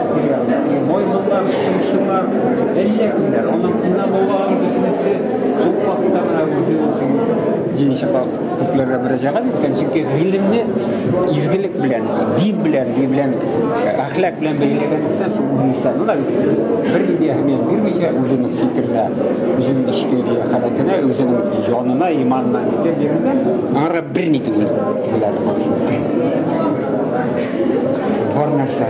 Маймыллар, шымчылар, әллә кемнәр, аның инабулларын бөтенесе шул хакта гына үзе укый. Җиде чаклы күкләргә мөрәҗәгать иткән, чөнки гыйлемне изгелек белән, дин белән, дин белән, әхлак белән бәйләгәнлектән, Гыйсаны да бер нинди әһәмият бирмичә, үзенең фикеренә, үзенең эчке халәтенә, үзенең җанына, иманына итеп бирелгән, аңарга берни түгел, диләр. Бар нәрсә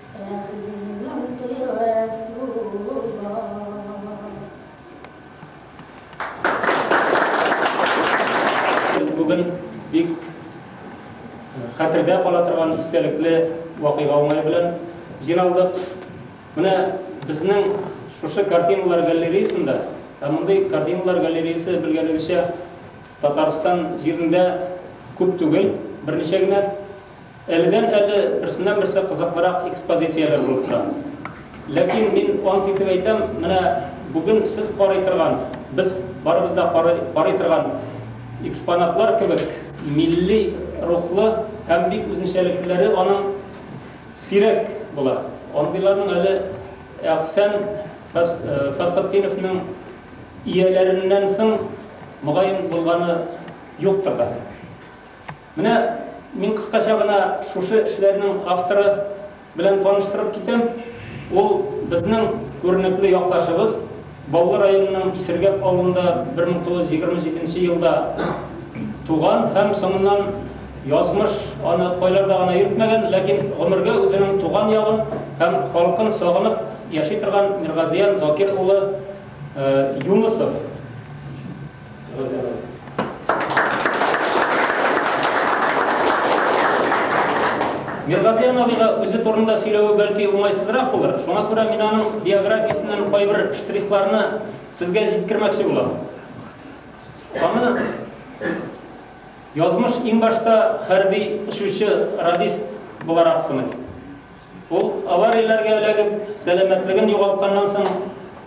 Без бүген бик хәтердә кала торган истәлекле вакыйга уңае белән җыйналдык. Менә безнең шушы картиналар галереясында, ә мондый картиналар галереясе, белгәнегезчә, Татарстан җирендә күп түгел, берничә генә. Әледән-әле берсеннән-берсе кызыклырак экспозицияләр булып тора. Ләкин мин ант итеп әйтәм, менә бүген сез карый торган, без барыбыз да карый карый торган экспонатлар кебек милли рухлы һәм бик үзенчәлеклеләре аның сирәк була. Андыйларның әле Әхсән Фәс Фәсхетдиновның ияләреннән соң, мөгаен, булганы юктыр да. Менә мин кыскача гына шушы эшләрнең авторы белән таныштырып китәм. Ул, безнең күренекле якташыбыз, Баулы районының Исергәп авылында 1927 нче елда туган һәм соңыннан язмыш аны кайларда гына йөртмәгән, ләкин гомергә үзенең туган ягын һәм халкын сагынып яши торган Миргазиян Закир улы Юнысов. Миргазиян абыйга үзе турында сөйләве бәлки уңайсызрак булыр. Шуңа күрә мин аның биографиясеннән кайбер штрихларны сезгә җиткермәкче булам. Аны язмыш иң башта хәрби очучы радист буларак сыный. Ул, аварияләргә эләгеп, сәламәтлеген югалтканнан соң,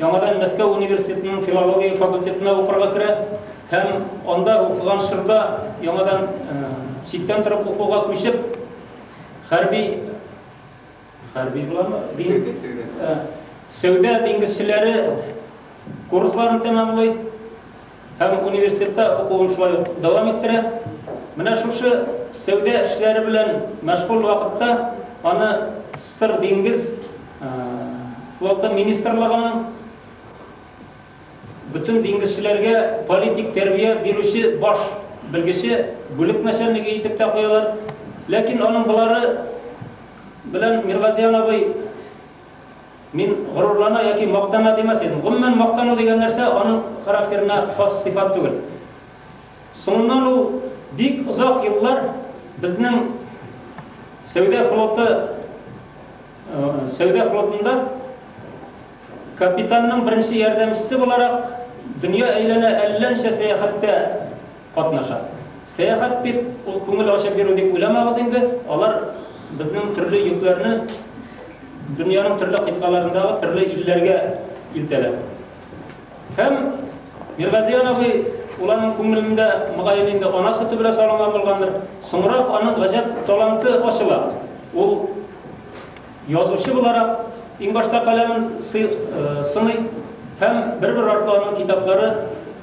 яңадан Мәскәү университетының филология факультетына укырга керә һәм анда укыган чорда яңадан читтән торып укуга күчеп, хәрби, хәрби буламы? Сәүдә диңгезчеләре курсларын тәмамлый. Һәм университетта укуын шулай ук дәвам иттерә. Менә шушы сәүдә эшләре белән мәшгуль вакытта аны Сыр диңгез флоты министрлыгының бөтен диңгезчеләргә политик тәрбия бирүче баш белгече, бүлек начальнигы итеп тә куялар. Ләкин аның болары белән Миргазиян абый Мин горурлана яки мактана димәс идем. Гомумән, мактану дигән нәрсә аның характерына хас сыйфат түгел. Соңыннан ул бик озак еллар безнең сәүдә флоты сәүдә флотында капитанның беренче ярдәмчесе буларак дөнья әйләнә әллә ничә сәяхәттә катнаша. Сәяхәт дип, ул күңел ачып йөрү дип уйламагыз инде, алар безнең төрле йөкләрне дөньяның төрле кыйтгаларындагы төрле илләргә илтәләр. Һәм Миргазиян абый ул аның күңелендә мөгаен инде ана сөте белән салынган булгандыр. Соңрак аның гаҗәп таланты ачыла. Ул язучы буларак иң башта каләмен сый, сыный һәм бер-бер артлы аның китаплары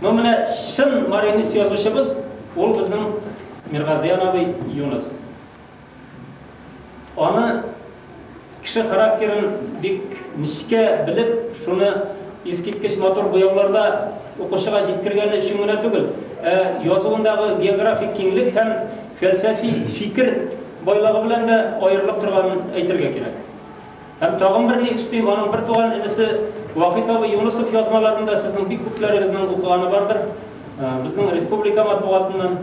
Ну менә чын маринис язучыбыз ул безнең Миргазиян абый Юныс. Аны кеше характерын бик нечкә белеп, шуны искиткеч матур буяуларда укучыга җиткергәне өчен генә түгел, ә язуындагы географик киңлек һәм фәлсәфи фикер байлыгы белән дә аерылып торганын әйтергә кирәк. Һәм тагын бер ни өстим, аның бертуган энесе Вахит абый Юнысов язмаларын да сезнең бик күпләрегезнең укыганы бардыр. Безнең республика матбугатыннан,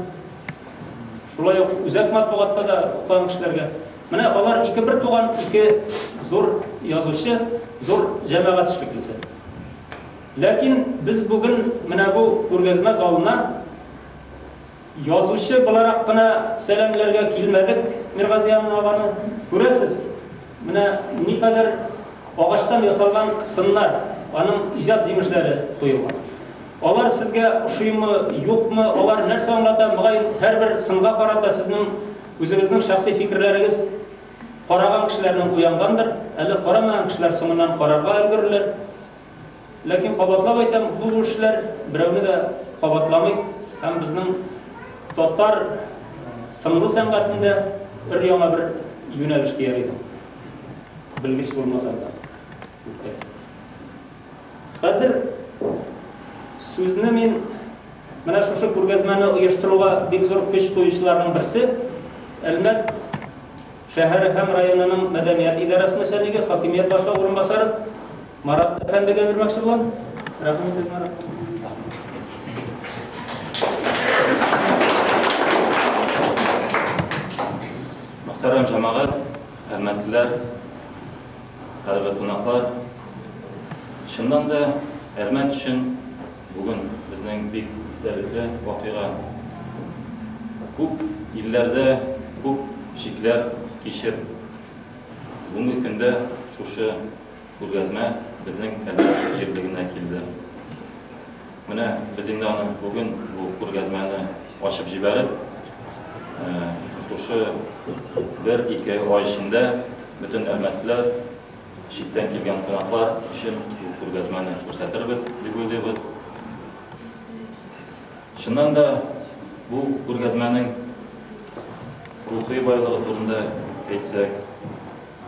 шулай ук үзәк матбугатта да укыган кешеләргә. Менә алар ике бертуган, ике зур язучы, зур җәмәгать эшлеклесе. Ләкин без бүген менә бу күргәзмә залына, Язучы буларак кына сәламләргә килмәдек Миргазиан аганы. Күрәсез, менә никадәр агачтан ясалган сыннар, аның иҗат җимешләре куелган. Алар сезгә ошыймы, юкмы, алар нәрсә аңлата, мөгаен, һәрбер сынга карата сезнең үзегезнең шәхси фикерләрегез караган кешеләрнең уянгандыр, әле карамаган кешеләр соңыннан карарга өлгерерләр. Ләкин, кабатлап әйтәм, бу күршеләр берәүне дә кабатламый һәм безнең татар сынлы сәнгатендә өр-яңа бер юнәлеш дияр идем. Белгеч булмасам да. Хәзер сүзне мин менә шушы күргәзмәне оештыруга бик зур көч куючыларның берсе, Әлмәт шәһәре һәм районының мәдәният идарәсе начальнигы, хакимият башлыгы урынбасары Марат әфәндегә бирмәкче булам. Рәхим итегез, Марат. Мөхтәрәм җәмәгать, хөрмәтлеләр, кадерле кунаклар. Чыннан да Әрмәт өчен бүген безнең бик истәлекле вакыйга. Күп илләрдә күп шикләр кичеп, бүгенге көндә шушы Күргәзмә безнең Кәләш җирлегенә килде. Менә без инде аны бүген бу күргәзмәне ачып җибәреп, шушы бер-ике ай эчендә бөтен әлмәтлеләр, читтән килгән кунаклар өчен бу күргәзмәне күрсәтербез дип уйлыйбыз. Чыннан да, бу күргәзмәнең рухи байлыгы турында әйтсәк,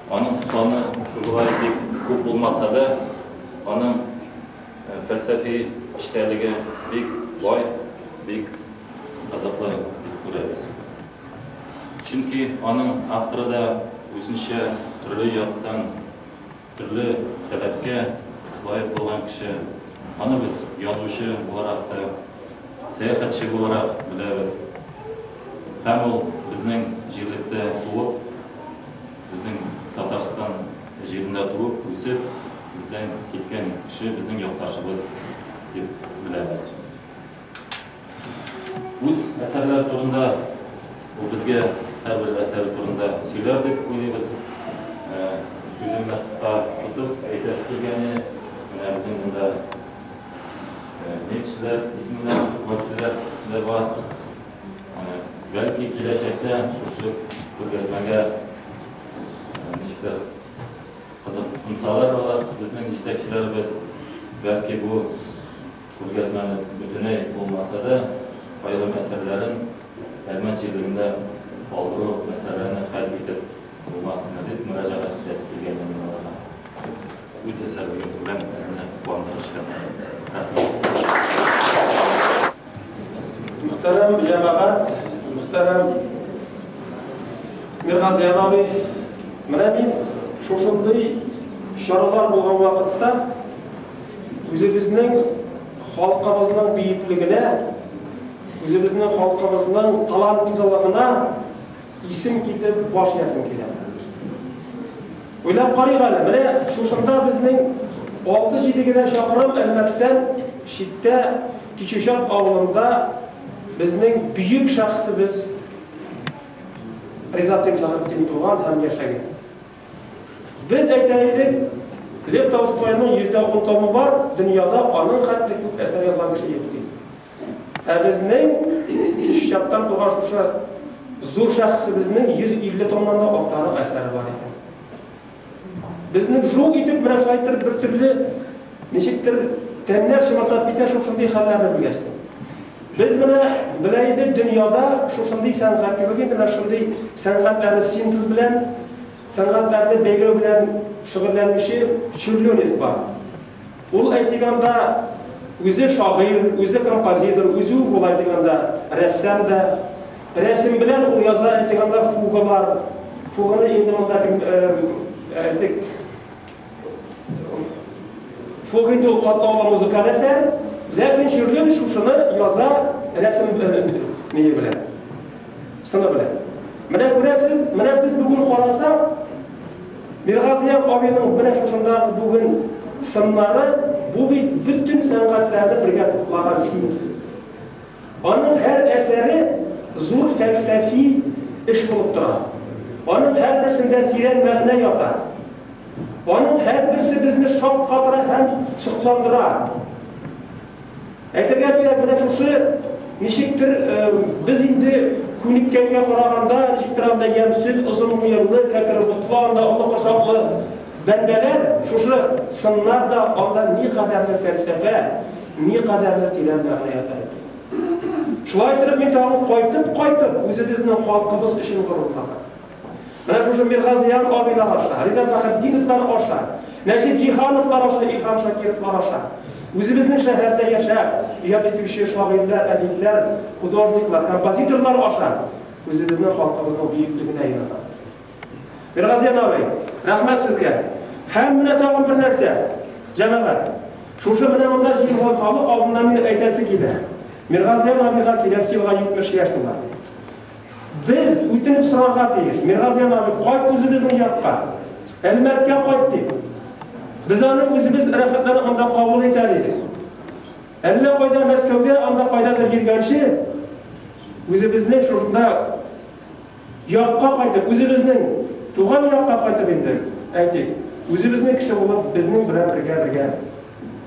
Аның саны шулай дип күп булмаса да, аның фәлсәфи эчтәлеге бик бай, бик кызыклы дип күрәбез. Чөнки аның авторы да үзенчә төрле яктан, төрле сәләткә лаек булган кеше. Аны без язучы буларак та, сәяхәтче буларак беләбез. Һәм ул безнең җирлектә туып, Безнең Татарстан җирендә туып, үсеп, бездән киткән кеше безнең якташыбыз дип беләбез. Үз әсәрләре турында, ул безгә һәрбер әсәре турында сөйләр дип уйлыйбыз. Сүземне кыска тотып әйтәсе килгәне, менә безнең монда нефтьчеләр исемнәре, нефтьчеләр дә бар. Бәлки киләчәктә шушы күргәзмәгә ничектер кызыксынсалар алар, безнең җитәкчеләребез, бәлки бу күргәзмәне бөтенләй булмаса да, аерым әсәрләрен Әлмәт җирлегендә калдыру мәсьәләне хәл итеп булмасмы дип мөрәҗәгать итәсе килгән инде аларга. Үз әсәрегез белән безне куандырып җибәргәнгә рәхмәт. Мөхтәрәм җәмәгать, мөхтәрәм Миргазиян абый, менә мин шушындый чаралар булган вакытта үзебезнең халкыбызның бөеклегенә, үзебезнең халкыбызның талантлылыгына исем китеп баш иясем килә. Уйлап карыйк әле, менә шушында безнең алты-җиде генә чакрым Әлмәттән читтә Кичүчан авылында безнең бөек шәхесебез Ризат Имзаһетдин туган һәм яшәгән. Без әйтә идек, Лев Толстойның йөздә ун томы бар, дөньяда аның хәтле күп әсәр язган кеше юк, дип. Ә безнең чаттан туган шушы зур шәхесебезнең 150 томнан да артыграк әсәре бар икән. Безнең шул итеп врачлайтыр бер төрле, ничектер, тәннәр чымырдап китә шушындый хәлләрне белгәчтен. Без менә белә идек, дөньяда шушындый сәнгать юк инде, менә шундый сәнгатьләрне синтез белән, сәнгатьләрне бәйләү белән шөгыльләнүче Чүрлюнев бар. Ул әйтик анда үзе шагыйрь, үзе композитор, үзе үк ул әйтик анда рәссам да. Рәсем белән ул яза әйтик анда фугалар. Фуганы инде монда кем әйтик Фуга инде ул катлаулы музыкаль әсәр, ләкин Чирлин шушыны яза рәсем белән, мие белән. Сыны белән. Менә күрәсез, менә без бүген карасак, Миргазия абыйның менә шушында бүген сыннары, бу бит бөтен сәнгатьләрне бергә туплаган синтез. Аның һәр әсәре зур фәлсәфи эш булып тора. Аның һәрберсендә тирән мәгънә ята. Аның һәрберсе безне шаккатыра һәм сокландыра. Әйтергә кирәк, менә шушы, ничектер, без инде күнеккәнгә караганда, ничектер анда ямьсез, озын муенлы, кәкре ботлы, анда олы корсаклы бәндәләр, шушы сыннар да анда никадәрле фәлсәфә, никадәрле тирән мәгънә ята икән. Шулай итеп, мин тагын кайтып-кайтып үзебезнең халкыбыз өчен горурланам. Менә шушы Миргазыян абыйлар аша, Риза Фәхретдиновлар аша, Нәҗип Җиһановлар аша, Илһам Шакировлар аша үзебезнең шәһәрдә яшәп, иҗат итүче шагыйрьләр, әдипләр, художниклар, композиторлар аша үзебезнең халкыбызның бөеклегенә инанам. Миргазыян абый, рәхмәт сезгә! Һәм менә тагын бер нәрсә, җәмәгать, шушы менә монда җыелган халык алдында минем әйтәсе килә, Миргазыян абыйга киләсе елга 70 яшь тула. Без үтенеп сорарга тиеш, Миргазиян абый, кайт үзебезнең якка, Әлмәткә кайт, дип. Без аны үзебез рәхәтләнеп анда кабул итәр идек. Әллә кайда Мәскәүгә, анда кайдадыр йөргәнче, үзебезнең шушында якка кайтып, үзебезнең туган якка кайтып инде, әйтик, үзебезнең кеше булып, безнең белән бергә-бергә.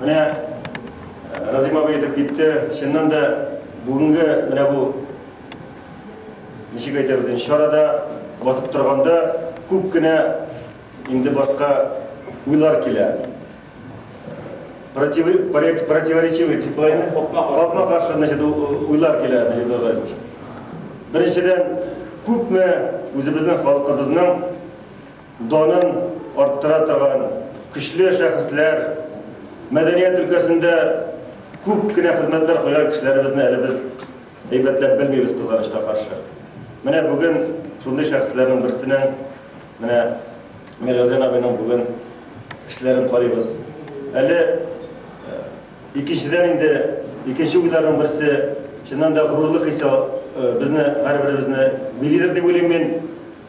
Менә Разыйм абый әйтеп китте, чыннан да бүгенге менә бу, ничек әйтәбез инде, чарада басып торганда күп кенә инде башка уйлар килә. Противоречивый, капма-каршы, значит, уйлар килә, Наил Бәйрәмович. Беренчедән, күпме үзебезнең халкыбызның Данын арттыра торган көчле шәхесләр, мәдәният өлкәсендә күп кенә хезмәтләр куйган кешеләребезне әле без әйбәтләп белмибез, кызганычка каршы. Менә бүген шундый шәхесләрнең берсенең, менә Миргазян абыйның бүген эшләрен карыйбыз. Әле икенчедән инде икенче уйларның берсе, чыннан да горурлык хисе безне һәрберебезне билидер дип уйлыйм мин.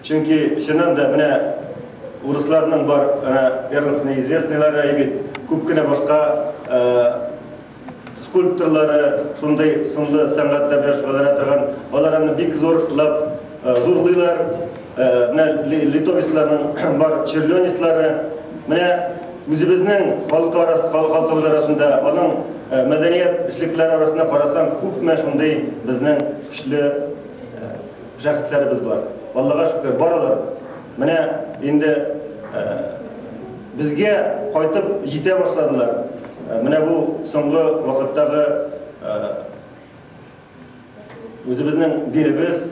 Чөнки чыннан да менә урысларның бар әнә первенственный известныйлары әй бит, күп кенә башка скульпторлары, шундый сынлы сәнгатьтә белән шөгыльләнә торган, алар аны бик зурлап зурлыйлар. Менә литовецларның бар черлёнецлары. Менә үзебезнең халык арасы, халкыбыз арасында, аның мәдәният эшлеклеләре арасында карасаң, күпме шундый безнең көчле Шәхесләребез бар. Аллага шөкер, баралар. Менә инде безгә кайтып җитә башладылар. Менә бу соңгы вакыттагы үзебезнең динебез,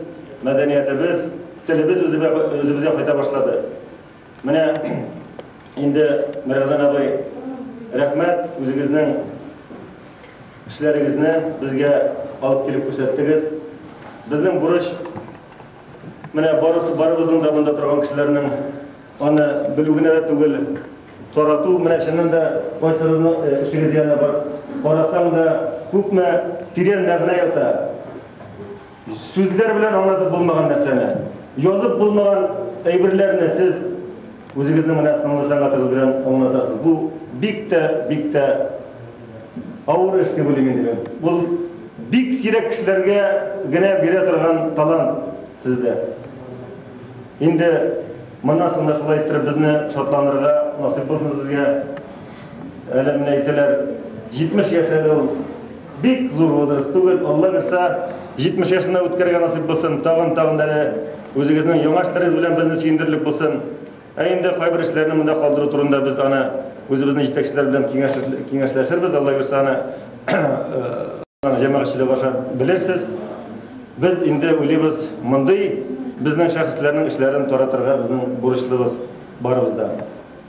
мәдәниятебез, телебез үзебезгә кайта башлады. Менә инде Мәргән абый, рәхмәт, үзегезнең эшләрегезне безгә алып килеп күрсәттегез. Безнең бурыч менә барысы барыбызның да монда торган кешеләрнең аны белү генә дә түгел, тарату. Менә чыннан да кайсыгызның э, эшегез янына барып карасаң да күпме тирән мәгънә ята. Сүзләр белән аңлатып булмаган нәрсәне, язып булмаган әйберләрне сез үзегезнең менә сынлы сәнгатыгыз белән аңлатасыз. Бу бик тә, бик тә авыр эш дип уйлыйм инде мин. Ул бик сирәк кешеләргә генә бирә торган талант сездә. Инде моннан соң да шулай иттереп безне шатландырырга насыйп булсын сезгә. Әле менә әйтәләр, 70 яшь әле ул бик зур возраст түгел, Алла бирсә, 70 яшен дә үткәрергә насыйп булсын, тагын-тагын әле үзегезнең яңа эшләрегез белән безне сөендерерлек булсын. Ә инде кайбер эшләрне монда калдыру турында без аны үзебезнең җитәкчеләр белән киңәшләшербез, Алла бирсә аны җәмәгатьчелек аша белерсез. Без инде уйлыйбыз, мондый безнең шәхесләрнең эшләрен таратырга безнең бурычлыбыз барыбыз да.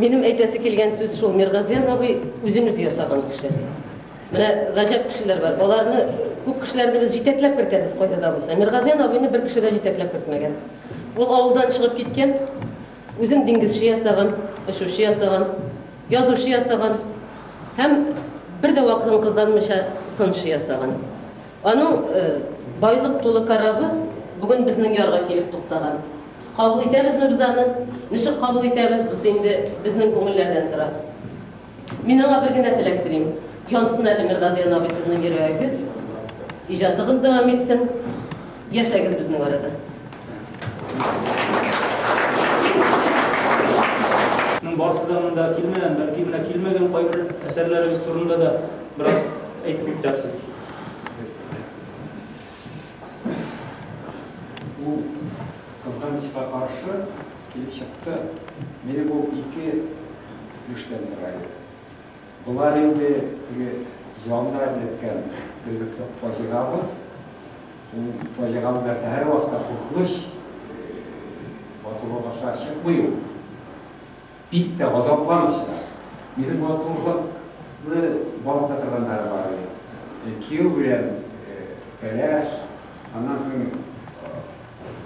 Минем әйтәсе килгән сүз шул, Миргазиян абый үзен үзе ясаган кеше. Менә гаҗәп кешеләр бар. Аларны күп кешеләрне без җитәкләп кертәбез кайда да булса. Миргазиян абыйны бер кеше дә җитәкләп кертмәгән. Ул авылдан чыгып киткән, үзен диңгезче ясаган, очучы ясаган, язучы ясаган һәм бер дә вакытын кызганмыйча сынчы ясаган. Аның байлык тулы корабы бүген безнең ярга килеп туктаган. Кабул итәбезме без аны, ничек кабул итәбез, бусы инде безнең күңелләрдән тора. Мин аңа бер генә теләк телим, янсын әле Миргазиян абый сезнең йөрәгегез, иҗатыгыз дәвам итсен, яшәгез безнең арада. Моның барысы да монда килмәгән, бәлки менә килмәгән кайбер әсәрләрегез турында да бераз әйтеп үтәрсез. Бу кызганычка каршы килеп чыкты. Мине бу ике юшьтән тора иде. Болар инде теге җанны әрнеткән безнең фаҗигабыз. Ул фаҗиганың нәрсә, һәрвакыт та куркыныч, матурлык аша чыкмый ул. Бик тә газапланыч та. Минем матурлыкны балта торганнары бар иде. Кияү белән кәләш, аннан соң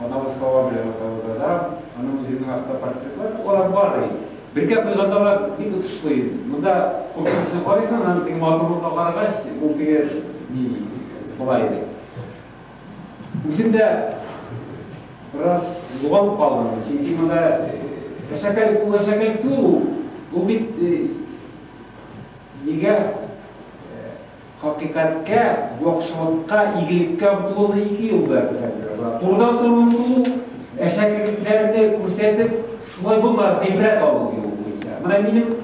анабыз Һава белән атабыз Адам, аннан үземнең автопортретлар, алар бар иде. Бергә куйганда алар бик отышлы иде. Монда куркынычны карыйсың, аннан теге матурлыкка карагач, ул теге, ни, шулай иде. Үзем дә бераз югалып калдым, чөнки монда әшәкәлек бу әшәкәлек түгел ул. Бу бит нигә хакыйкатькә, яхшылыкка, игелеккә омтылуны ике юл белән күрсәтергә була. Турыдан туры омтылу, әшәкелекләрне күрсәтеп, шулай булмады, гыйбрәт алу ди ул буенча. Менә минем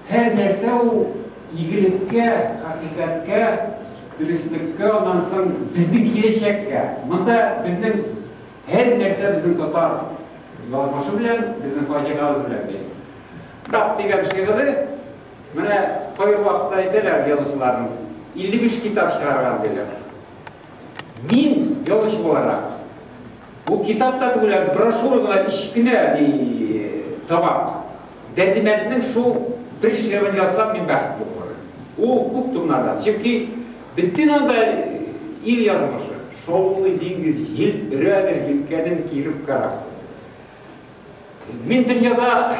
Һәр нәрсә ул игелеккә, хакыйкатькә, дөреслеккә, аннан соң безнең киләчәккә. Монда безнең һәр нәрсә безнең татар язмышы белән, безнең фаҗигабыз белән бәйле. Тап дигән шигыре, менә кайбер вакытта әйтәләр язучыларның, 55 китап чыгарган диләр. Мин, ялгыш буларак, бу китап та түгел, ә брошюра гына, кечкенә ди табак. Дәрдимәнднең шул бер шигырен язсам, мин бәхетле булырым. Ул күп томнардан, чөнки бөтен анда ил язмышы, шаулый диңгез, җил өрәдер җилкәнен киереп корабль. Мин дөньяда,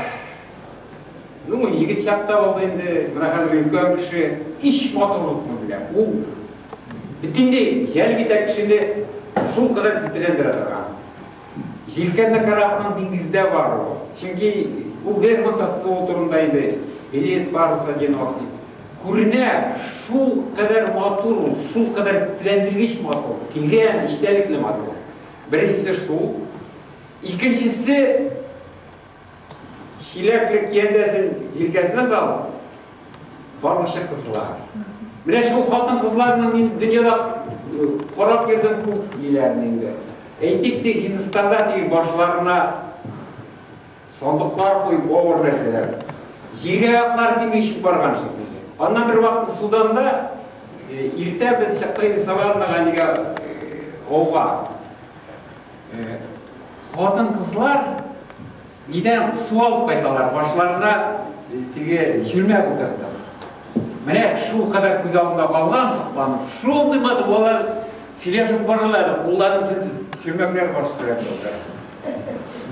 ну, егет чакта булды инде, менә хәзер өлкән кеше, һич матурлыкны белә. Ул бөтенләй җәлеп итә кешене шул кадәр тетрәндерә торган. Җилкәнне карап, аның диңгездә бар ул. Чөнки ул Лермонтов кул турында иде. Билет барысы одинок дип. Күренә, шул кадәр матур ул, шул кадәр тетрәндергеч матур, тирән, эчтәлекле матур. Беренчесе шул. Икенчесе чиләкле киядәсен җилкәсенә салып, бармыча кызыла. Менә шул хатын-кызларны мин дөньяда карап йөрдем күп диләрне инде. Әйтик, тик Һиндстанда тиеп башларына сандыклар куеп авыр нәрсәләр. Җиргә аяклар тими ишеп барган шикелле. Аннан бер вакыт Суданда иртә без чыкты инде Саваннага нигә ауга. Хатын кызлар нидән су алып кайталар, башларына теге чүлмә утырды. Менә шул кадәр күз алдында калган сокланып, шундый матур балалар сөйләшеп баралар, кулларын сез чүлмәкләр баш сөрәп алалар.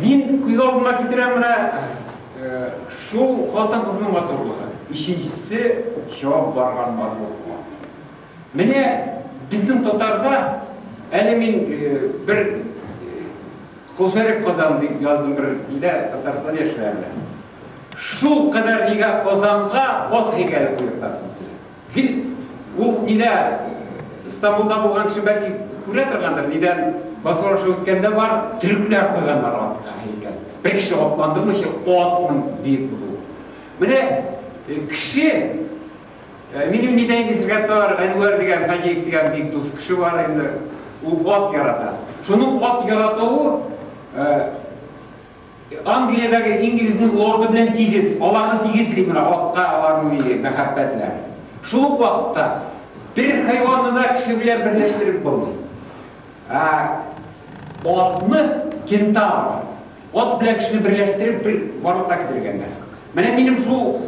Мин күз алдыма китерәм менә шул хатын кызның матурлыгы. Өченчесе чабып барган матурлыгы. Менә безнең татарда, әле мин бер Косарев Казан дип яздым бер өйдә, Татарстанда яшьләрдә. Шул кадәр нигә Казанга ат һәйкәле куертасың килә. Гел ул нидә Стамбулда булган кеше бәлки күрә торгандыр, нидән басулашу үткәндә бар, төрекләр куйганнар атка һәйкәл. Бер кеше атландырмыйча атның биек булуы. Менә кеше Минем нидә инде сезгә тар, Әнвәр дигән Хаҗиев дигән бик дус кеше бар инде. Ул ат ярата. Шуның ат яратуы Англиядәге инглизнең лорды белән тигез. Аларны тигезли менә атка аларның милли мәхәббәтләр. Шул ук вакытта бер хайванны да кеше белән берләштереп булмый. Атны кентавр Ат белән кешене берләштереп бер барлыкка китерергә генә. Менә минем шул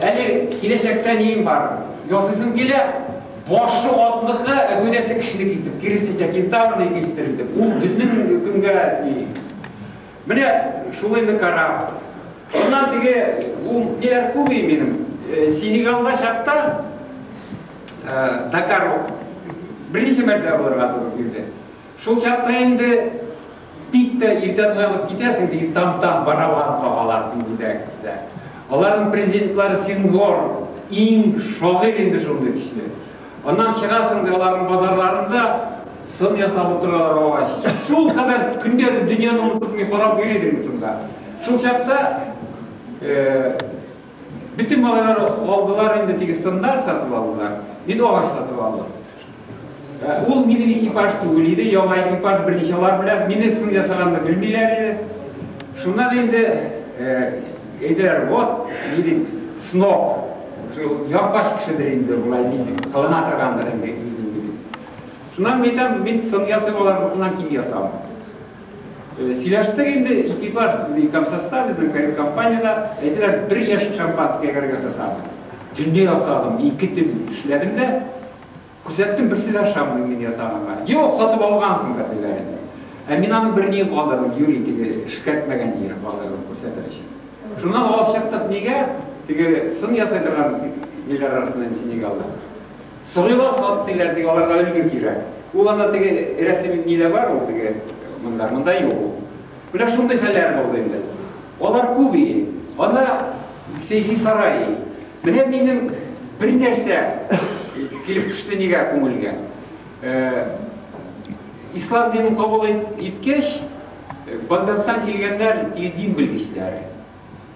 әле киләчәктә нием бар? Ясыйсым килә, башы атлыкы, ә гәүдәсе кешенеке итеп, киресенчә кентаврны итештердем. Ул безнең көнгә ни. Менә шул инде карап. Аннан теге ул ниләр күми минем. Синегалда чакта Дакар берничә мәртәбә булырга туры килде. Шул чакта инде бик тә иртән уянып китәсең, теге там-там барабан кагалар күңелдәгесендә. Аларның президентлары Сингор, иң шагыйрь инде шундый көчле. Аннан чыгасың да аларның базарларында сын ясап утыралар агач. Шул кадәр көндә дөньяны онытып мин карап йөри идем шунда. Шул чакта Бөтен малайлар алдылар инде, теге сыннар сатып алдылар. Мин агач сатып алдым. Ә, ул минем экипаж түгел иде, яңа экипаж берничалар белән, мине сын ясаганны белмиләр иде. Шуннан инде э, әйделәр, вот, ни дип, сноб, шул япач кешедер инде болай диде, кылына торгандыр инде үзен диде. Шуннан мин әйтәм, мин сын ясыйм, алар бушыннан киң ясам. Э, сөйләштек инде ике бар комсоста безнең компанияда әйтәләр бер яшь шампанское кәргә сасадым төнлә ясадым ике төн эшләдем дә күрсәттем берсе дә ошамый мин ясаганга юк сатып алгансың да диләр инде ә мин аны берни калдырдым юри теге эшкәртмәгән җире калдырдым күрсәтер өчен шуннан алып чыктык нигә теге сын ясай торган ниләр арасында синегалда Сорыйлар салып диләр теге аларга өлге кирәк. Ул анда теге рәсем нидә бар ул теге монда монда юк ул. Менә шундый хәлләр булды инде. Алар күп иде. Анда Сейфи сарай. Менә минем бер нәрсә килеп төште нигә күңелгә. Э, ислам динен кабул иткәч, Багдадтан килгәннәр теге дин белгечләре.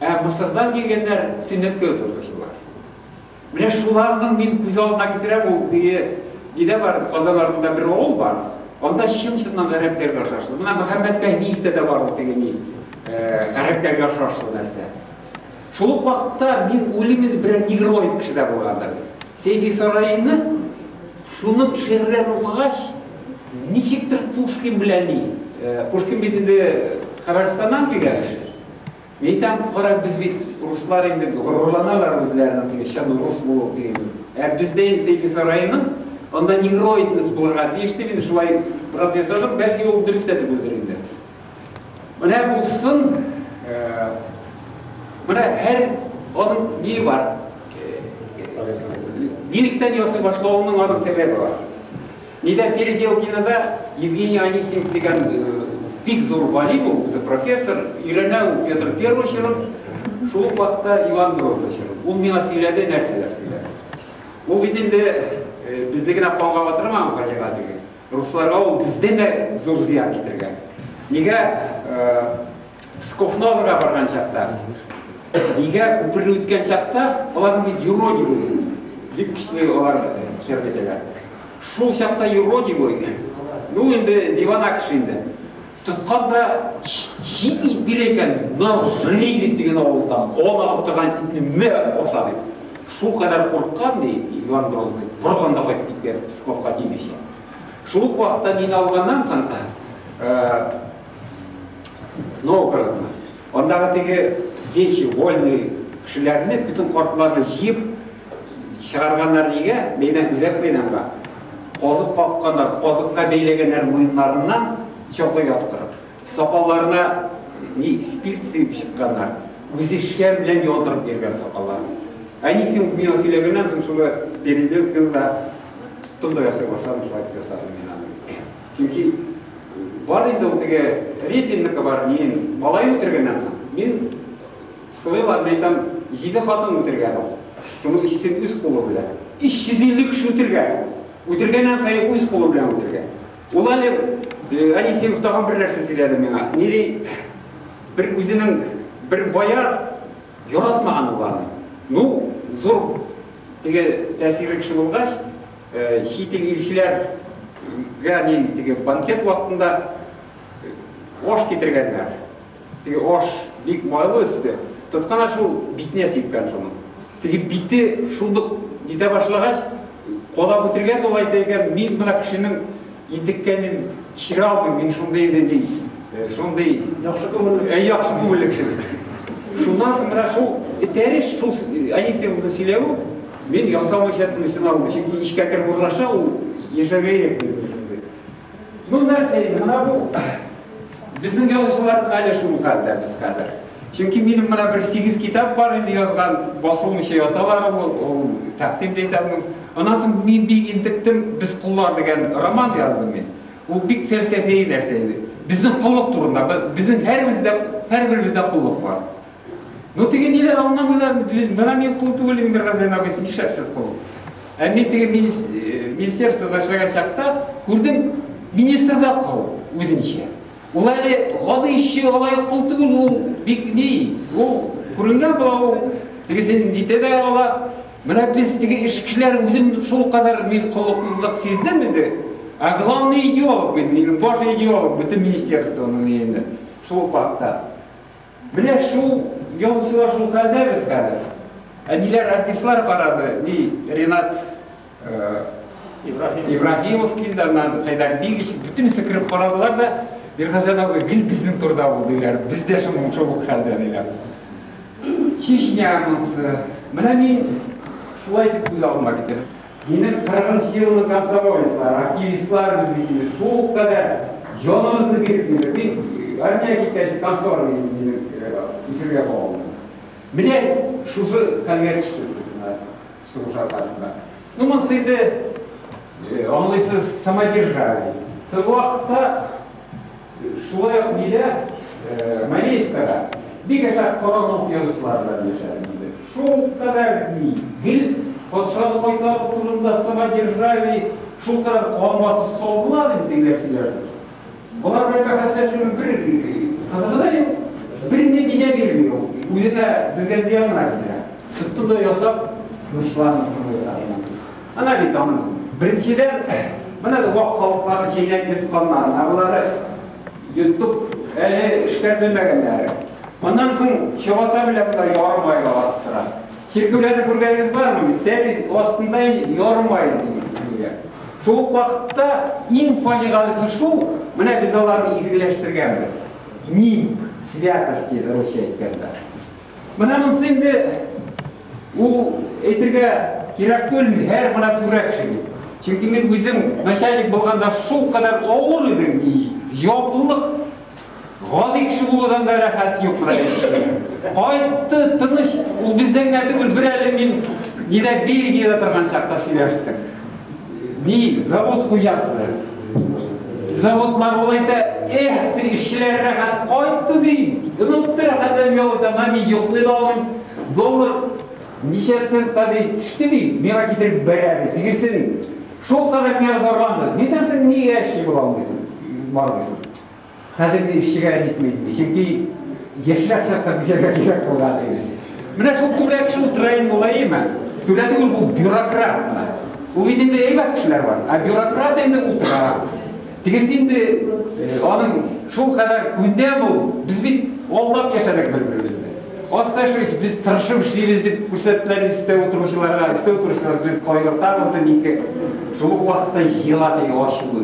Ә Мысырдан килгәннәр сөннәткә утыручылар. Менә шуларның мин күз алдына китерәм, ул теге нидә бар, Казан артында бер авыл бар, анда чын-чыннан гарәпләргә охшашлы. Менә Мөхәммәт Мәһдиевтә дә бар ул теге ни, гарәпләргә охшашлы нәрсә. Шул ук вакытта мин уйлыйм инде берәр негроид кеше дә булгандыр дип. Сәйфи Сараины шуның шигырьләрен укыгач, ничектер Пушкин белән ни, Пушкин бит инде Хәбәрстаннан килгән кеше. Нитән куркарак без бит руслар инде горурланалар үзләренең теге чын рус булу диген белән. Ә бездә инде Сәйфи Сараиның анда негроидность булырга тиеш дип инде шулай бераз ясадым, бәлки ул дөрес тә түгелдер инде. Менә булсын, менә һәр аның ние бар. Ниректән ясый башлавының аның сәбәбе бар. Нидә Переделкинода Евгений Анисимов дигән бик зур галим ул, үзе профессор, өйрәнә ул Петр Первый җырын, шул ук вакытта Иван Грозный җырын. Ул миңа сөйләде, нәрсәләр сөйләде. Ул бит инде безне генә канга батырмаган фаҗига түгел. Русларга ул бездән дә зур зыян китергән. Нигә Скофновога барган чакта, нигә күперне үткән чакта, алар бит юродив иде. Бик көчле алар хисап итәләр. Шул чакта юродив иде. Ну инде диван акш инде. Тоткан да җит ит бирә икән, Гырилик дигән авылда кан агып торган итне мә аша дип. Шул кадәр курыккан ди Иван Грозный, бордан да кайтып киткән Псковка тимичә. Шул ук вакытта мине алганнан соң, Новгородны, андагы теге дети, вольные кешеләрне, бөтен картларны җыеп чыгарганнар нигә? Мәйдан, үзәк мәйданга. Казык какканнар, казыкка бәйләгәннәр муеннарыннан чокы яптырып. Сакалларына ни спирт сыйып чыкканнар. Үзе шәм белән яндырып йөргән сакалларын. Әнисе миңа сөйләгәннән соң, шуны переделканы да тоттым да ясый башладым, шулай итеп ясадым мин аны. Чөнки бар инде ул теге Репинныкы бар, мин малай үтергәннән соң, мин сылыйлар, мин әйтәм, җиде хатын үтергән ул. Шуның өчесен үз кулы белән. 350 кеше үтергән ул. Үтергәннән саен үз кулы белән үтергән. Ул әле Анисимов тагын бер нәрсә сөйләде миңа. Ни ди? Бер үзенең бер бояр яратмаган ул аны. Ну, зур теге тәэсирле кеше булгач, Чит ил илчеләргә мин теге банкет вакытында аш китергәннәр. Теге аш бик майлы өсте. Тоткана шул битенә сипкән шуның. Теге бите шундук китә башлагач, кадап үтергән дә ул әйтә икән, мин менә кешенең интеккәнен кичерә алмыйм, мин шундый инде мин, шундый яхшы күңелле, әй яхшы күңелле кеше. Шуннан соң менә шул этәреш, шул әнисе шуны сөйләве Мин ясау иҗатымны сынау, чөнки эчкә кереп урнаша ул, яшәргә ирек биреп яшәргә. Ну нәрсә инде, менә бу. Безнең язучыларның әле шул хәлдә без хәзер. Чөнки минем менә бер сигез китап бар инде язган, басылмыйча яталар ул, ул тәкъдим дә итәм ул. Аннан соң мин бик интектем, Без коллар дигән роман яздым мин. Ул бик фәлсәфи нәрсә иде. Безнең коллык турында, безнең һәрбез дә, һәрберебездә коллык бар. Ну теге ниләр аңламыйлар, менә мин кул түгел инде Газән абый, син нишләпсез кул? Ә мин теге министерствода эшләгән чакта күрдем, министр да кул үзенчә. Ул әле гади эшче, алай кул түгел, ул бик ни, ул күренгән була ул, тегесен дитә дә ала. Менә без теге эш кешеләр үзем шул кадәр мин коллыклылык сиздем инде. А главный идеолог, мин баш идеолог бөтен министерствоның инде шул вакытта. Менә шул ялчылар шул хәлдә без хәзер. Әниләр артистлар карады, ни Ренат Ибраһимов килде, аннан Хәйдәр Бигич, бөтенесе кереп карадылар да, Миргазән абый гел безнең турда ул диләр, без дә шул шул ук хәлдә диләр. Чечня анысы. Менә мин шулай итеп күз алдыма китердем. Минем кыргын силлы комсомолецлар, активистлар без бит инде шулкадәр җанымызны биреп йөрдек. Мин армиягә киткәнче комсомолец идем, минем исемгә куа алмыйсың. Менә шушы хәлгә төштек без менә сугыш аркасында. Ну, монысы инде, аңлыйсыз, самодержавие. Соң вакытта. Шулай ук биредә, Мариевка да, бик әҗәп королык язучылары белән яшәдем, диде. Шул кадәр гел патшаны кайтару турында самодержавие, шул кадәр канга тоз салдылар инде, дигән сөйләште. Болар белән бәхәсләшүнең бер кызыгы да юк, бер нәтиҗә бирми ул. Үзе дә безгә зыян гына китерә. Тоттым да ясап, тынычландым, дип уйлый Хәлимә. Менә бит аның, беренчедән, менә бу вак халыкларны чәйнәп йотканнары, агулары йотып әле эшкәртелмәгәннәре. Моннан соң чабата белән дә ярым айлык арттыра. Чиркәүләрне күргәнегез бармы бит, тәмиз астында ярым айлык дип бирелә. Шул ук вакытта иң фаҗигалесе шул, менә без аларны изгеләштергәнбез, нимб, святость диде русча әйткәндә. Менә монсы инде ул әйтергә кирәк түлми, һәр менә түрәк шуни. Чөнки мин үзем начальник булганда шул кадәр авыр идем ки, җаваплылык гади кеше булудан да рәхәт юк менә ишетте. Кайтты, тыныч, ул бездән генә түгел, бер әле мин нидә Бельгиядә торган чакта сөйләштек. Ди завод хуҗасы. Заводлар ул әйтә, эх, ди, эшчеләр рәхәт кайтты, ди. Онытты рәхәт әмгәве дама, мин йоклый да алмыйм. Доллар ничә центка, ди, төште, ди, миңа китереп бәрә, ди. Тегесе шулкадәр миңа зарланды. Нидән соң, нигә эшче була алмыйсың, бармыйсың? Хәзер мин эшчегә әйтмим, ди, чөнки яшьрәк чакта бизәргә кирәк булган иде. Менә шул түрә кеше утыра инде, ул әйеме? Түрә түгел, бу бюрократ менә. Ул бит инде әйбәт кешеләр бар, ә бюрократ инде утыра. Тегесе инде аның шул кадәр күндәм ул, без бит алдап яшәдек бер-беребезне. Аста эшлибез, без тырышып эшлибез дип күрсәттеләр инде өстә утыручыларга, өстә утыручылар без кайгыртабыз ди, ник шул ук вакытта җыела теге ачуы.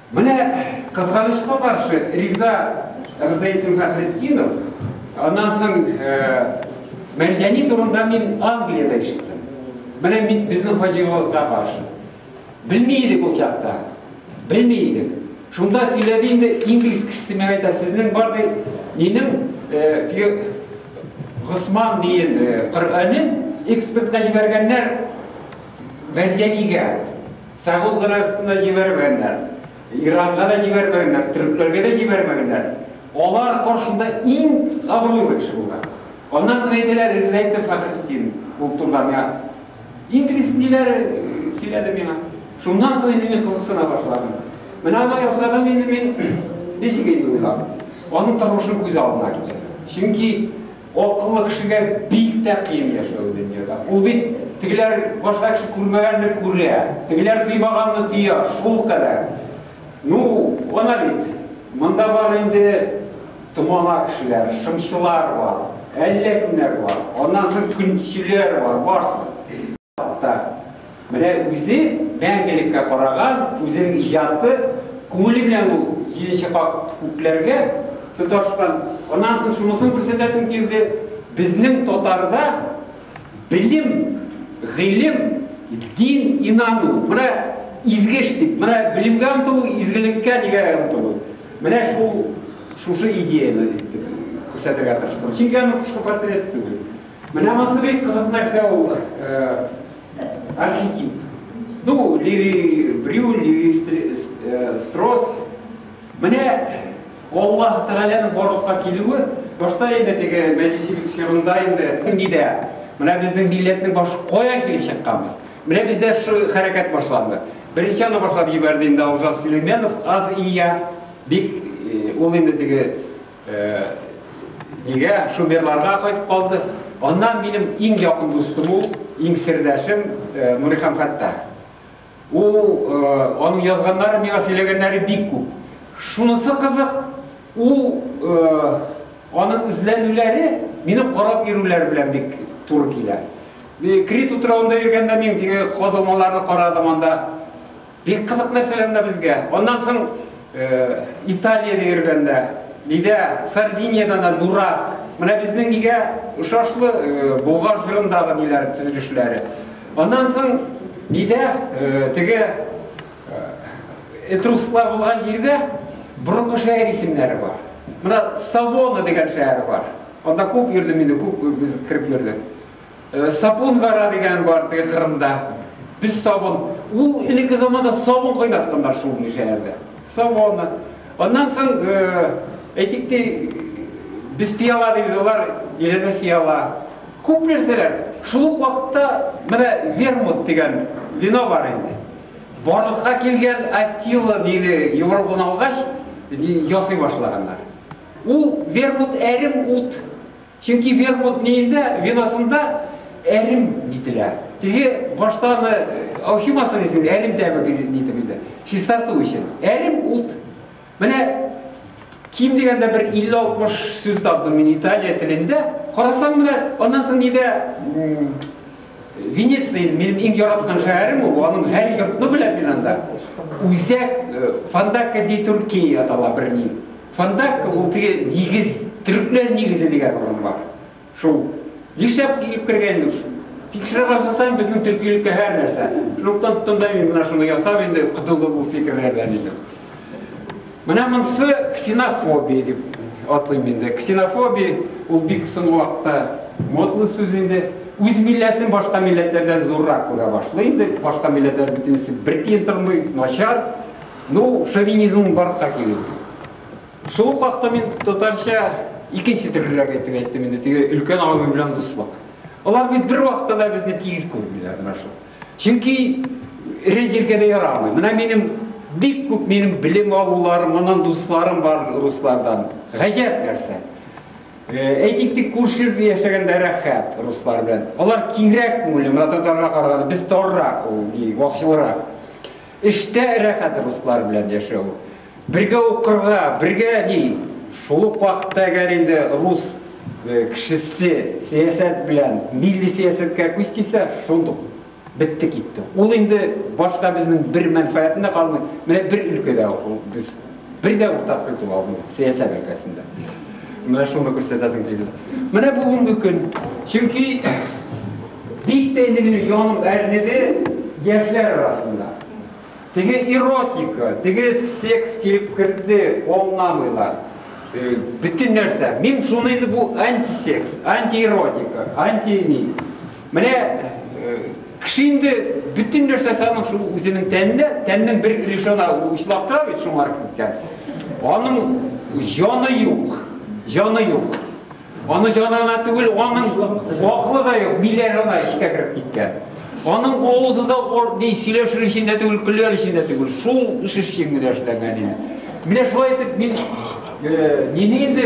Менә кызганычка каршы, Риза Рзаетдин Фәхретдинов, аннан соң Мәрҗани турында мин Англиядә ишеттем. Менә мин безнең хаҗигалыкка каршы. Белми идек ул чакта. Белми идек. Шунда сөйләде инде инглиз кешесе миңа әйтә, сезнең бар ди, минем теге Госман дигән Коръәнен экспортка җибәргәннәр Мәрҗанигә. Сәгуд Гарәбстан да җибәрмәгәннәр, Иранга да җибәрмәгәннәр, төрекләргә дә җибәрмәгәннәр. Алар каршында иң абруйлы кеше булган. Аннан соң әйтәләр, Ризаэддин Фәхретдин ул турыда миңа инглиз ниләр сөйләде миңа. Шуннан соң инде мин кызыксына башладым. Менә алай ясадым инде мин, ничек инде уйлап, аның тормышын күз алдына китердем. Чөнки Акыллы кешегә бик тә кыен яшәү дөньяда. Ул бит тегеләр башка кеше күрмәгәнне күрә, тегеләр тоймаганны тоя, шул кадәр. Ну, ана бит, монда бар инде томала кешеләр, шымчылар бар, әллә кемнәр бар, аннан соң көнчеләр бар, барсы. Хакта. Менә үзе мәңгелеккә караган үзенең иҗаты күңеле белән ул җиденче кат күкләргә тоташкан. Аннан соң шунысын күрсәтәсем килде, безнең татарда белем, гыйлем, дин, инану, менә изге эш дип, менә белемгә омтылу, изгелеккә дигән омтылу. Менә шул шушы идеяне дип күрсәтергә тырыштым. Чөнки аның тышкы портрет түгел. Менә монысы бик кызык нәрсә ул архетип. Ну, Леви Брюль, Леви Строс. Менә Аллаһ Тәгаләнең барлыкка килүе, башта инде теге мәҗүсилек чорында инде нидә? Менә безнең милләтнең башы каян килеп чыкканбыз? Менә бездә шу хәрәкәт башланды. Беренче аны башлап җибәрде инде Алжас Сөләймәнов, аз ия, бик ул инде теге Нигә шумерларга кайтып калды? Аннан минем иң якын дустым ул, иң сердәшем Нурихан Фәттах. Ул аның язганнары, миңа сөйләгәннәре бик күп. Шунысы кызык, ул аның эзләнүләре минем карап йөрүләр белән бик туры килә. Крит утравында йөргәндә мин теге казылмаларны карадым анда. Бик кызык нәрсәләр менә безгә. Аннан соң Италиядә йөргәндә, биредә Сардиниядән дә дурак. Менә безнең нигә ошашлы Болгар җырындагы ниләр төзелешләре. Аннан соң биредә теге этрусклар булган җирдә борынгы шәһәр исемнәре бар. Менә Савона дигән шәһәр бар. Анда күп йөрдем инде, күп без кереп йөрдек. Сапун гара дигән бар теге Кырымда. Без сабын, ул элекке заманда сабын кайнатканнар шул инде шәһәрдә. Сабоны. Аннан соң, әйтик ти, без пиала дибез, алар иләдә фиала. Күп нәрсәләр. Шул ук вакытта менә вермут дигән вино бар инде. Барлыкка килгән Аттила дине Европаны алгач, ясый башлаганнар. Ул вермут әрем ут, Чөнки вермут ниендә, виносында әрем нителә. Теге башта аны алчымасын иде син, әрем тәме нитеп инде, чистарту өчен. Әрем, ут. Менә ким дигәндә бер 50-60 сүз таптым мин Италия телендә. Карасаң менә, аннан соң нидә Венеция, минем иң яраткан шәһәрем ул, аның һәр йортны беләм мин анда. Үзәк Фандакка ди Туркия атала берни. Фонтанка ул теге нигез, төрекләр нигезе дигән урын бар. Шул нишләп килеп кергән инде шул. Тикшерә башласаң, безнең төркилеккә һәр нәрсә. Шунлыктан тонда мин менә шуны ясап инде котылдым бу фикерләрдән инде. Менә монсы ксенофобия дип атыйм инде. Ксенофобия ул бик соң вакытта модлы сүз инде. Үз милләтен башка милләтләрдән зуррак күрә башлый инде. Башка милләтләр бөтенесе бер тиен тормый, начар. Ну, феминизмның барлыкка килүе. Шул ук вакытта мин татарча икенче төрлерәк әйтеп әйттем инде, теге өлкән абый белән дуслык. Алар бит бер вакытта да безне тигез күрмиләр менә шул. Чөнки эре җиргә дә ярамый. Менә минем бик күп минем белем алуларым, моннан дусларым бар руслардан. Гаҗәп нәрсә. Э, әйтик тик күрше яшәгәндә рәхәт руслар белән. Алар киңрәк күңелле, менә татарга караганда без таррак, ул вакчылрак. Эштә рәхәт руслар белән яшәү, бергә укырга, бергә ни, шул ук вакытта әгәр инде рус кешесе сәясәт белән, милли сәясәткә күз тисә, шундук бетте китте. Ул инде башка безнең бер мәнфәгатенә калмый, менә бер өлкәдә ул без. Бер дә уртак культура алдыгыз сәясәт өлкәсендә. Менә шуны күрсәтәсең президент. Менә бүгенге көн. Чөнки бик тә инде минем яным әрнеде яшьләр арасында. Теге эротика, теге секс килеп керде, аңламыйлар. Э, бөтен нәрсә. Мин шуны инде бу антисекс, антиэротика, анти ни. Менә кеше инде бөтен нәрсә санын шул үзенең тәнендә, тәннең бер өлеше ана учлап тора бит, шуңарып киткән. Аның җаны юк, җаны юк. Аны җанына түгел, аның ваклы да юк, биләр ана эчкә кереп киткән. Аның авызы да ни сөйләшер өчен дә түгел, көләр өчен дә түгел, шул эш өчен генә эшләнгән инде. Менә шулай итеп мин, нини инде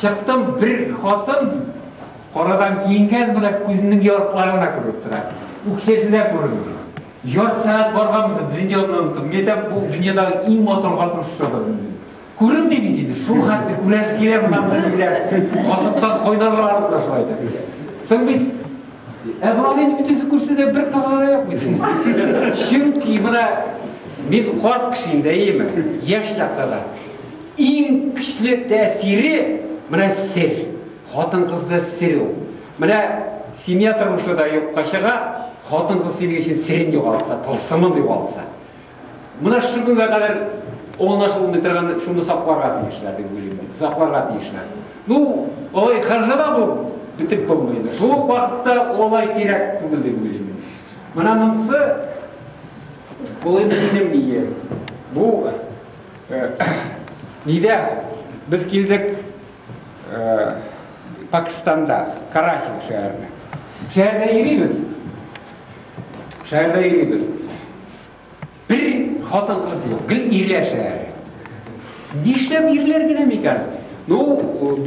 Чыктым, бер хатын, карадан киенгән, менә күзенең ярыклары гына күренеп тора, үкчәсе дә күренми. Ярты сәгать барганбыз, дөньяны оныттым. Мин әйтәм, бу дөньядагы иң матур хатын шушыдыр, дим. Күренми бит инде, шул хәтле күрәсе килә моннан берниләр. Гашыктан кайнарлар алып та шулай итеп. Соң бит Ә болар инде бөтенесе күрсәтә бер кызы да юк бит. Чөнки менә мин карт кеше инде, әйеме? Яшь чакта да. Иң көчле тәэсире, менә сер. Хатын-кызда сер ул. Менә семья тормышы да юкка чыга, хатын-кыз синең өчен серен югалса, тылсымын югалса. Менә шушы көнгә кадәр аңлашылмый торган шуны сакларга тиешләр, дип уйлыйм мин. Сакларга тиешләр. Ну, алай хәжәлә булып бетеп булмый инде. Шул ук вакытта алай кирәк түгел дип уйлыйм мин. Менә монсы, бу инде минем ие. Бу Нидә без килдек Пакистанда, Караси шәһәренә. Шәһәрдә йөрибез. Шәһәрдә йөрибез. Бер хатын кыз юк, гел ирләр шәһәре. Нишләп ирләр генә микән? Ну,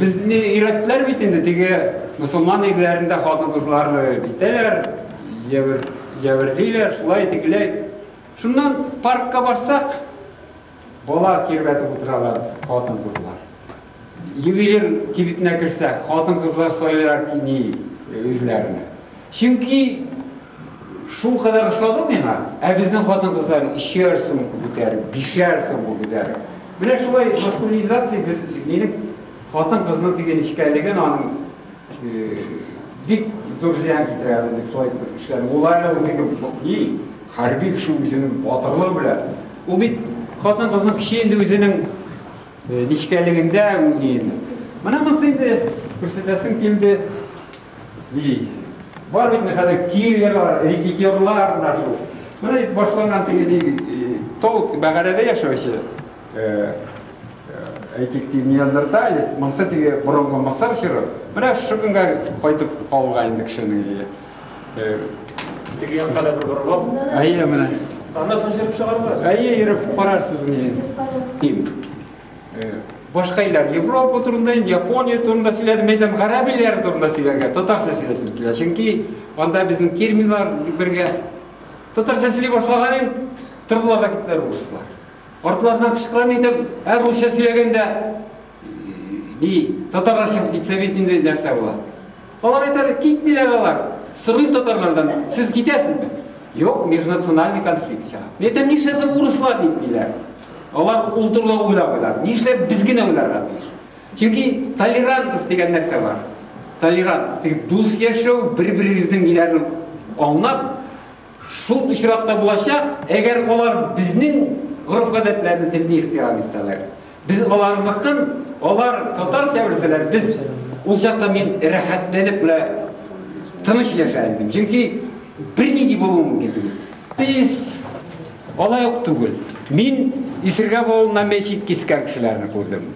безне өйрәттеләр бит инде теге мусулман ирләрендә хатын-кызлар битәләр, җәберлиләр, шулай тегеләй. Шуннан паркка барсак, бала тирбәтеп утыралар хатын-кызлар. Ювелир кибетенә керсәк, хатын-кызлар сайлыйлар кими үзләренә. Чөнки шул кадәр ошады миңа, ә безнең хатын-кызлар өчәр сумка күтәреп, бишәр сумка күтәреп. Менә шулай маскулинизация без минем хатын-кызның теге нечкәлеген, аның Бик зур зыян китерә әле дип шулай итеп эшләдем. Ул әле ул теге ни хәрби кеше үзенең батырлыгы белән. Ул бит хатын-кызның кеше инде үзенең нечкәлегендә үги инде. Менә монысы инде күрсәтәсем килде. Ди. Бар бит хәзер киллерлар, рекетерлар менә шул. Менә башланган теге тол бәгарәдә яшәүче Әйтик ки, неандерталец, монсы теге борынгы Мысыр чоры. Менә шушы көнгә кайтып калуга инде кешенең ие. Теге якка да бер борылып. Әйе, менә. Аннан соң җөреп чыгарбыз. Әйе, йөреп карарсыз ни. Ким. Башка илләр Европа турында, Япония турында сөйләдем, әйтәм, гарәп илләре турында сөйләргә, татарча сөйләсем килә. Чөнки анда безнең терминнар бергә. Татарча сөйли башлаган ин, тордылар да киттеләр урыслар. Картлардан кычкырам идем, ә русча сөйләгәндә ни, татарлар чыгып китсә бит инде нәрсә була? Алар әйтәләр, китмиләр алар. Сорыйм татарлардан, сез китәсезме? Юк, межнациональный конфликт чыга. Мин әйтәм, нишләп соң урыслар китмиләр? Алар ул турыда уйлап Нишләп без генә уйларга тиеш? Чөнки толерантность дигән нәрсә бар. Толерантность, дус яшәү, бер-берегезнең ниләрен аңлап, Шул очракта булачак, әгәр алар безнең гореф-гадәтләрне, телне ихтирам итсәләр. Без аларныкын, алар татарча белсәләр, без Ул чакта мин рәхәтләнеп менә тыныч яшәр идем. Чөнки бернинди булуы мөмкин түгел. Атеист алай ук түгел. Мин Исергәп авылында мәчет кискән кешеләрне күрдем.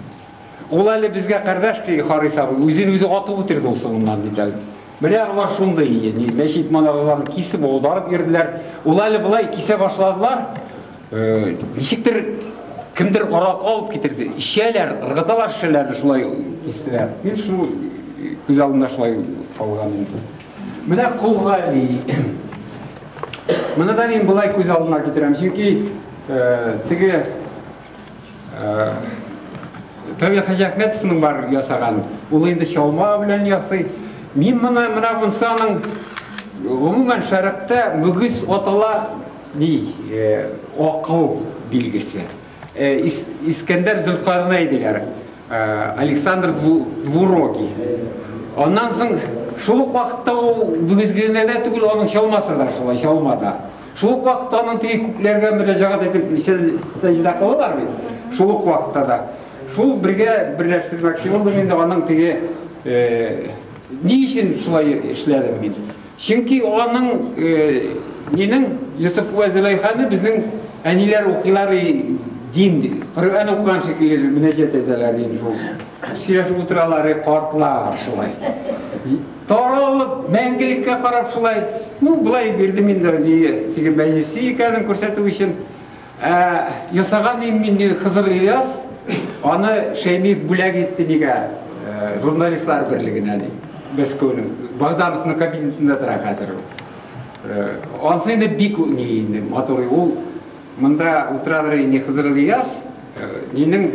Ул әле безгә кардәш, ди Харис абый, үзен үзе атып үтерде ул сугымнан, диде әле. Менә алар шундый, ди, мәчет манараларын кисеп, аударып йөрделәр. Ул әле болай кисә башладылар, ничектер кемдер аракы алып китерде. Эчәләр, ыргыталар шешәләрне, шулай кистеләр. Мин шул күз алдында шулай калган инде. Менә кулга ди. Моны да мин болай күз алдына китерәм, чөнки теге Тәүге Хаҗәхмәтовның бар ясаган, ул инде чалма белән ясый. Мин моны менә монсы аның гомумән шәрекътә мөгез атала ди, акыл билгесе. Искәндәр Зөлкарнәй диләр, Александр Двурогий. Аннан соң шул ук вакытта ул мөгезгенә дә түгел, аның чалмасы да шулай, чалма да. Шул ук вакытта аның теге күкләргә мөрәҗәгать итеп сәҗдә кылалар бит. Шул ук вакытта да шул бергә берләштермәкче булдым инде аның теге ни өчен шулай эшләдем мин? Чөнки аның минем Йосыф вә Зөләйханы безнең әниләр укыйлар дин, Коръән укыган шикелле мөнәҗәт итәләр дин шул. Сөйләшеп утыралар, картлар шулай. Таралып, мәңгелеккә карап шулай, ну, болай бирдем инде әние, теге мәҗлесе икәнен күрсәтү өчен. Ә ясаган ием мин ди Хызыр Ильяс, аны Шәймиев бүләк итте нигә, журналистлар берлегенә ди. Мәскәүнең, Богдановның кабинетында тора хәзер ул. Ансы инде бик ни инде, матур, ул монда утыра бирә инде Хызыр Ильяс, минем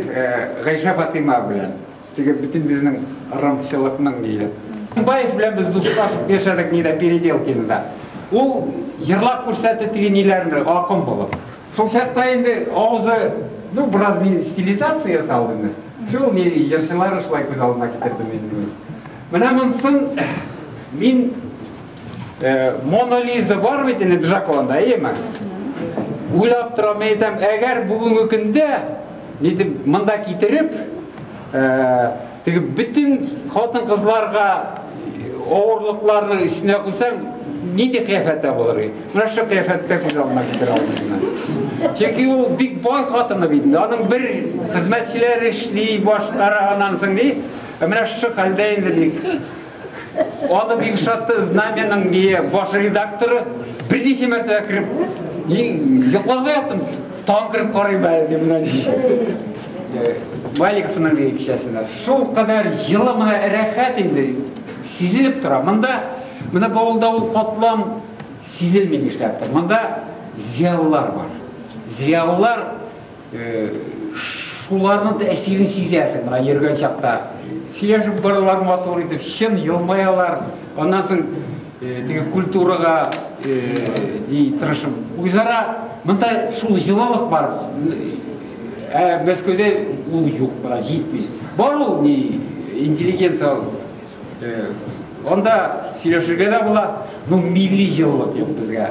Гайшә-Фатыйма белән. Теге бөтен безнең рымчылыкның ниле. Тукбаев белән без дуслашып яшәдек нидә Переделкинда. Ул җырлап күрсәтте теге ниләрне акын булып. Шул чакта инде авызы, ну, бераз ни стилизация ясалды инде. Шул ни җырчылары шулай күз алдына китердем инде мин. Менә монысын мин Мона Лиза бар бит инде Джаконда, әйеме? Уйлап торам, мин әйтәм, әгәр бүгенге көндә нитеп монда китереп, теге бөтен хатын-кызларга авырлыкларның өстенә куйсаң, нинди кыяфәттә булыр ди? Менә шул кыяфәттә күз алдына китерә алмыйсың. Чөнки ул бик бай хатыны бит инде. Аның бер хезмәтчеләр эшли, башкара аннан соң ди. Менә шул хәлдә инде бик Аны бик шатты знаменың бие баш редакторы берничә мәртәбә кереп, йокларга яттым, тагын кереп карыйм әле дип менә Маликовның кичәсендә. Шул кадәр җылы менә рәхәт инде сизелеп тора. Монда менә бавылда ул катлам сизелми нишләптер. Монда зиялылар бар. Зиялылар Шуларның тәэсирен сизәсең, менә йөргән чакта. Сөйләшеп барулар матур итеп, чын елмаялар. Аннан соң теге культурага ни тырышып, үзара монда шул җылылык бар. Ә Мәскәүдә ул юк, бара җитми. Бар ул ни интеллигенция анда сөйләшергә дә була, но милли җылылык юк безгә.